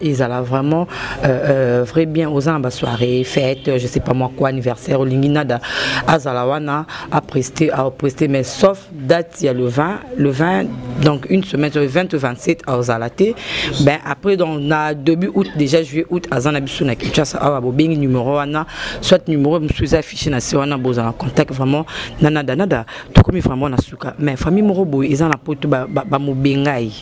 ezala vraiment euh, euh, vrai bien oza na basoirée fête je sais pas moi quoi anniversaire olingi nada azala wana apreste apreste mais sauf date ya le 20 le 20 donc une semaine sur le 20 au 27 azala te ben après donc na début août déjà juillet août aza na biso na kinshasa awa bobengi numéro wana soit numéro mosusu eza affiché na se wana bozala contact vraiment na nada nada tokomi vraiment na suka mais famille moko boye eza na poto bamobengai ba, ba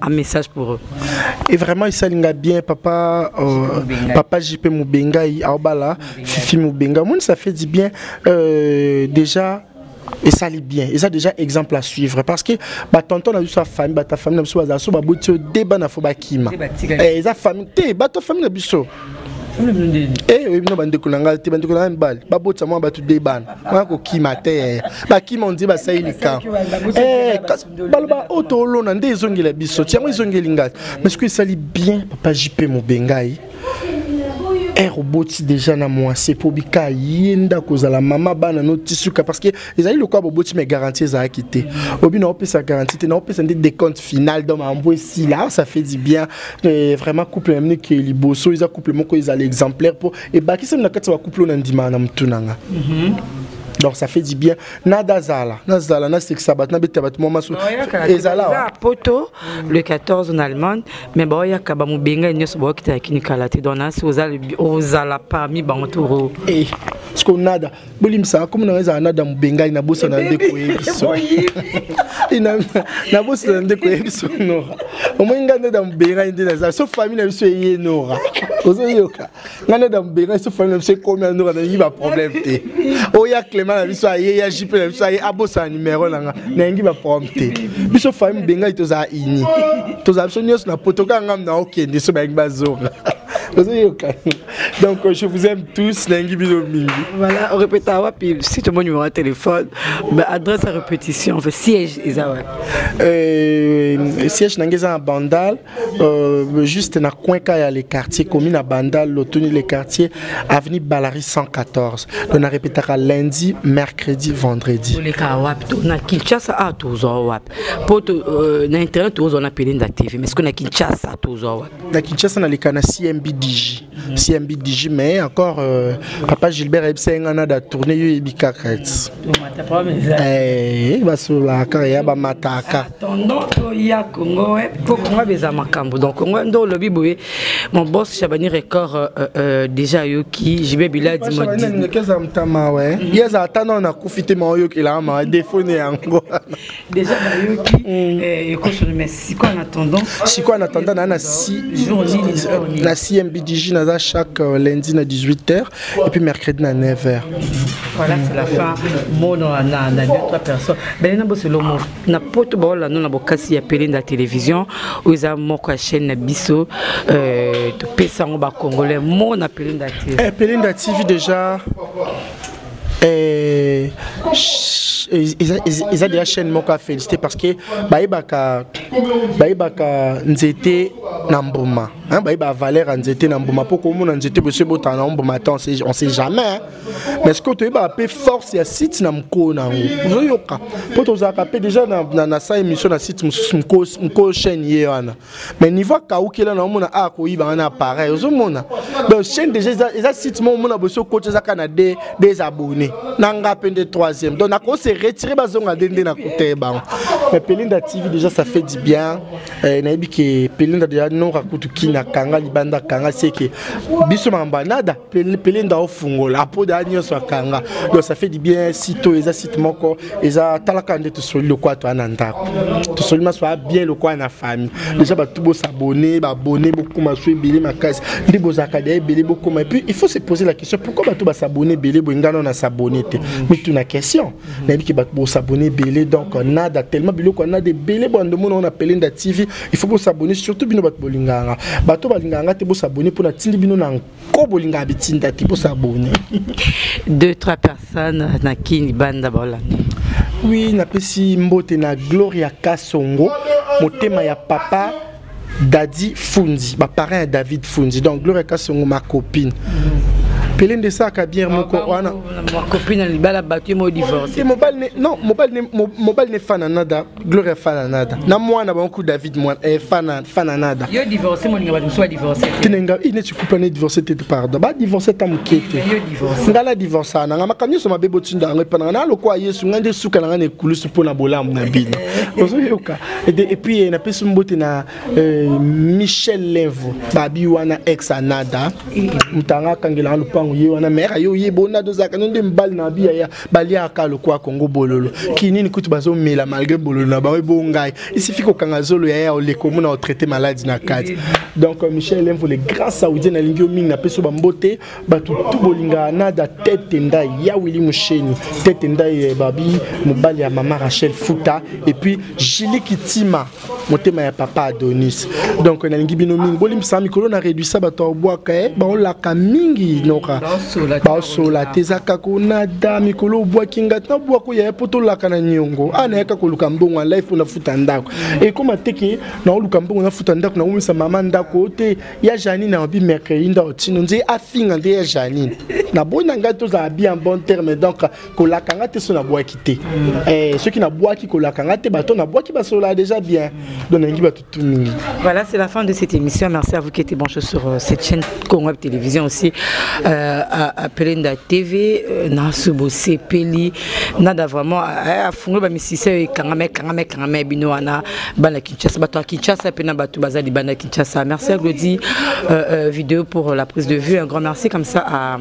Un message pour eux. Et vraiment, il s'aligne bien, papa, euh, papa JP Moubenga, Aobala, Fifi Moubenga. Moi, ça fait du bien. Euh, déjà, et ça lit bien et ça déjà exemple à suivre parce que bah tonton a sa famille bah ta famille na biso baza so ba botio deba na fo ba kima et eh, sa famille te bah ta famille na biso eh oui non bande kolanga te bande kolanga mbal ba botsa moi ba tu deba na ko kima te ba kima on dit ba sayi lika eh baloba oyo toolona nde ezongela biso ti yango ezongeli ngai mais soki esali bien papa jp mobengai ere oboti deja na mwasi mpo bika ye ndako ozala mama bana no tisuka parce que ezali lokola boboti mai garantie ezalaki te obi naopesa garantie te naopesa nde decompte final donc mambo esila ah, ça fait du bien euh, vraiment couple na miniki liboso eza couple moko ezala exemplaire mpo ebakisami na kati ya bacouple oyo nandimaka na motu na nga mhm. donc ça fait du bien nada zala nazala nasekisa bato nabeta bato mwa maso ezala poto le 14 na allemagne mais baoyaka bamobenga nyonso baokita ya kini kala te donc nasi ozala parmi bango toro eh, siko nada bolimbisaka komi nanga ezala nada mobengai nabosana nde koyebiso nabosana nde koyebiso nora omoi ngai nada mobengai nde naza so famille na biso eye nora ozoyoka ngai neda mobenga biso famille na biso ekomi ya ndoka nalingi baproblème te oya clément na biso aye ya jp na biso aye abosana numero na nga nalingi baproblème te biso famille mobengai tozala uni tozala biso nyonso na poto kaka ngai na okende so balingi bazonga Donc, je vous aime tous. Voilà, on répète à Wapi, si tu mon numéro de téléphone, bah, adresse à répétition, fait siège, Isawa. Euh, siège, Nangeza Bandal. Euh, juste na coin ka ya le quartier commune à Bandal lotuni le quartier avenue Balari 114 donc na répétaka lundi mercredi vendredi oleka wapi to na Kinshasa a ah, tozwa wapi po to euh, na internet tozwa na Pelinda TV mais ce que na Kinshasa tozwa wapi na Kinshasa na leka na CMBDG CMB Digi mais encore euh, papa Gilbert ayebisa ye ngai nada tourne yo yebi kaka ti eh, basola kaka ya bamataka ya congo po congo abeza makambo donc congo nde olobi boye mon boss chabani record euh, euh, euh déjà ayoki jibe biladi modinekeza mtama we ye aza ata nao nakufi te maoyokelaka mawa defone yango Déjà nayoki eh, ekoso mais siko en attendant siko en attendant na na si jour nini euh, na CMBDJ naza chaque euh, lundi na 18h et puis mercredi na 9h. Voilà c'est la fin mono na na deux trois personnes. Ben na boselo mo na poto ba ola na bokasi ya pele na télévision oza moko ya chaîne na biso euh to pesa ngo ba congolais mo na pele na TV. Eh pele na TV déjà Euh, eza deja chaîne moko ya félicité parce que bayebaka bayebaka nzete na mbuma bayeba valeur ya nzete na mbuma mpo komona nzete bosi ebotana na mbuma ata on sait jamais mais sikoyo toyebaka mpe force ya site na mokolo na yango ozoyoka mpo tozalaka mpe deja na sa émission na site mosusu mokolo chaîne ye wana mais niveau akaukela na omona a koyiba nga na appareil ozomona donc chaîne déjà eza, eza site moko omona bosi okoti eza kaka na de des abonnés na nga mpe nde troisième donc nako se retire bazonga nde nde nakoteye bango mais pelinda tv déjà ça fait du bien eh, nayebi ke pelinda déjà nora kutu kini akanga libanda akanga seke biso makambo anada pele nda ofungola apoda ya nyonso akanga donc ça fait du bien site oyo eza site moko eza talaka nde tosoli lokola toya na ndako tosoli maso ya bien lokola na famille déjà bato bosabone babone bokoma so ebele makasi nde bozalaka deya ebele bokoma et puis il faut se poser la question pourquoi bato basabone ebele boye ngai nano nasabone te mituna question nayebi ke bato bosabone ebele donc nada tellement biloko ya nada ebele bwando mona ona pele nda tv il faut bosabone surtout bino bato bolinganga bato balinganga te bosabone mpo natindi bino na ko bolingaka bitinda te bosa boni deux trois personnes na kini banda baolanda oui napesi mbote na gloria kasongo motema ya papa dadi fundi baparent ya david fundi donc gloria kasongo ma copine pele nde esaka bien moko wana mobali ne fana nada gloria fana nada na mwana bango ku david mwana eh, fana fana nada yo divorce moninga bato mosusu badivorce tinenga ine cikupa ne divorce te pardon badivorce ata moke te ngai na divorce na ngai makambo nyonso mabe botinda yango epa na ngai na lokola yesu ngai nde suka na ngai na ekulusu mpo na bolamu na bino ozoyoka epuis eh, napesi mbote na eh, michel levo babi wana ex anada motanga akangela ngai lopango ye wana mere aye oyebonada ozalaka no nde mbali na biya baliaka lokola kongo bololo kinini kutu bazomela malgré bololo na bango ebo ngai isifi kokanga zolo ya ya oleko omona otraite maladi na kati donc euh, michel lemvo le grand saoudien nalingi yo mingi napesi yo bambote bato tu bolingaka nada tete ndai ya wili mosheni tete ndai eh, babi mobali ya mama rachel futa epuis jili kitima motema ya papa adonis donc nalingi bino mingi bolimbisa mikolo na réduisa bato ya obwaka e eh, baolaka mingi noka baosola te eza kaka onada mikolo obwaki ngai tina obwaka oyaya mpo tolaka na niongo a ah, nayaka koluka mbongo ya life mpo nafuta ndako ekoma teke naoluka mbongo nafuta ndako nakomisa mama ndako oyo te ya janine aobi mercredi ndao tino nzee afinga nde ya janine naboyi na ngai tozala bien bon terme donc kolaka nga te so nabwaki te eh, soki nabwaki kolaka nga te bato nabwaki basolola déjà bien donc nalingi bato tu mingi voilà c'est la fin de cette émission merci à vous qui étiez branché sur euh, cette chaîne congo télévision aussi euh, appelé nda tv euh, na subo sepeli nada vraiment euh, afungoli bamisisa oyo ekangama ekangama ekangama ya bino wana bana kinshasa bato ya kinshasa mpe na bato baza libanda kinshasa merci à glodi euh, euh, vidéo pour la prise de vue un grand merci comme ça à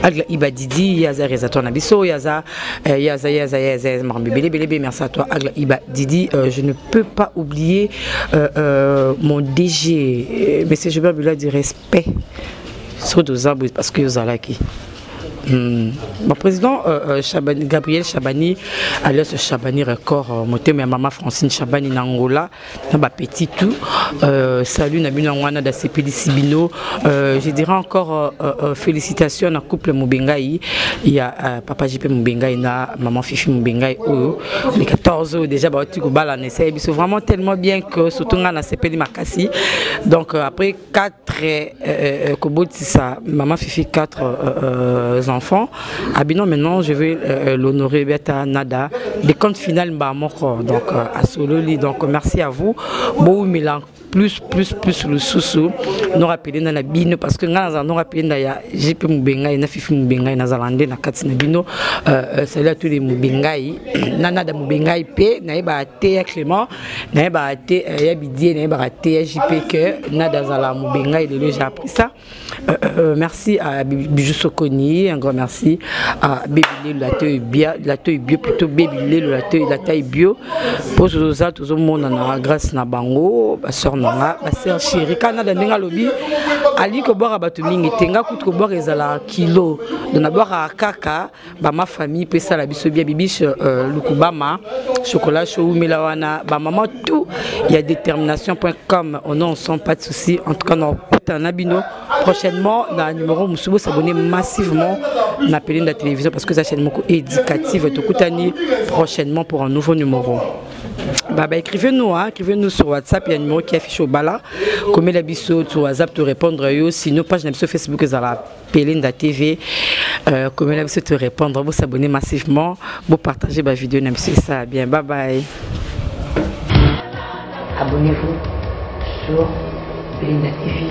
Agla Iba Didi, Yaza Reza toi Nabiso, Yaza, euh, Yaza, Yaza, Yaza, Yaza, Marambe, Bélé, Bélé, Bélé, merci à toi, Agla Iba Didi. Euh, je ne peux pas oublier euh, euh, mon DG, euh, Monsieur Gilbert Bula, du respect sur Dozabou, parce que Yozalaki. Hmm. Mon président euh, euh, Chabani, Gabriel Chabani, alias Chabani Record, euh, motema ya mama Francine Chabani na Angola, na ba petit tout euh, salut na bino ngwana da sepelisi bino euh, je dirais encore euh, euh, félicitations na couple Mubengai ya euh, papa JP Mubengai na maman Fifi Mubengai oyo les 14 oyo déjà ba tu ko bala na c'est vraiment tellement bien que surtout nga na sepeli makasi donc euh, après 4 euh, euh, kobotisa maman fifi 4 euh, euh, enfants abino ah, maintenant je vais euh, euh l'honorer biata nada de compte final mba moko donc euh, asololi donc merci à vous boumela plus plus plus lususu norapele nda na bino parce que ngai nazala norapele nda ya gp mobengai na fifi mobengai nazala nde na kati na bino euh, euh, salut à tous les mobengai na nada mobengai mpe nayeba te ya clément nayebaka te euh, ya bidie nayebaka te ya jp que nada azala mobenga elelo j'ai appris ça euh, euh, merci à bijou sokoni un grand merci à baby lelo la toy bio la toy bio plutôt baby lelo la toy la taille bio po toza tozomonana grâce na bango basœur na nga basœur chéri ka nada ndenge alobi alingi kobwaka bato mingi te nga kutu kobwaka ezalaka kilo donc nabwakaka kaka bama famille mpe esala biso bia bibiche euh, lukubama chocolat chaud wumela wana bamama tout ya détermination point com on en sent pas de souci en tout cas nakutana bino prochainement na numéro mosusu bosabone massivement na pelenda télévision parce que eza chaîne moko éducative tokutani prochainement pour un nouveau numéro bah, bah, écrivez-nous, hein, écrivez-nous sur WhatsApp, il y a un numéro qui affiche au bala. Comme la biso, tu WhatsApp, tu répondre, sinon page sur Facebook, là. Pelinda TV euh, komela biso to répondre bo s'abonner massivement bo partager ba vidéo na biso ça bien bye bye abonnez-vous sur Pelinda TV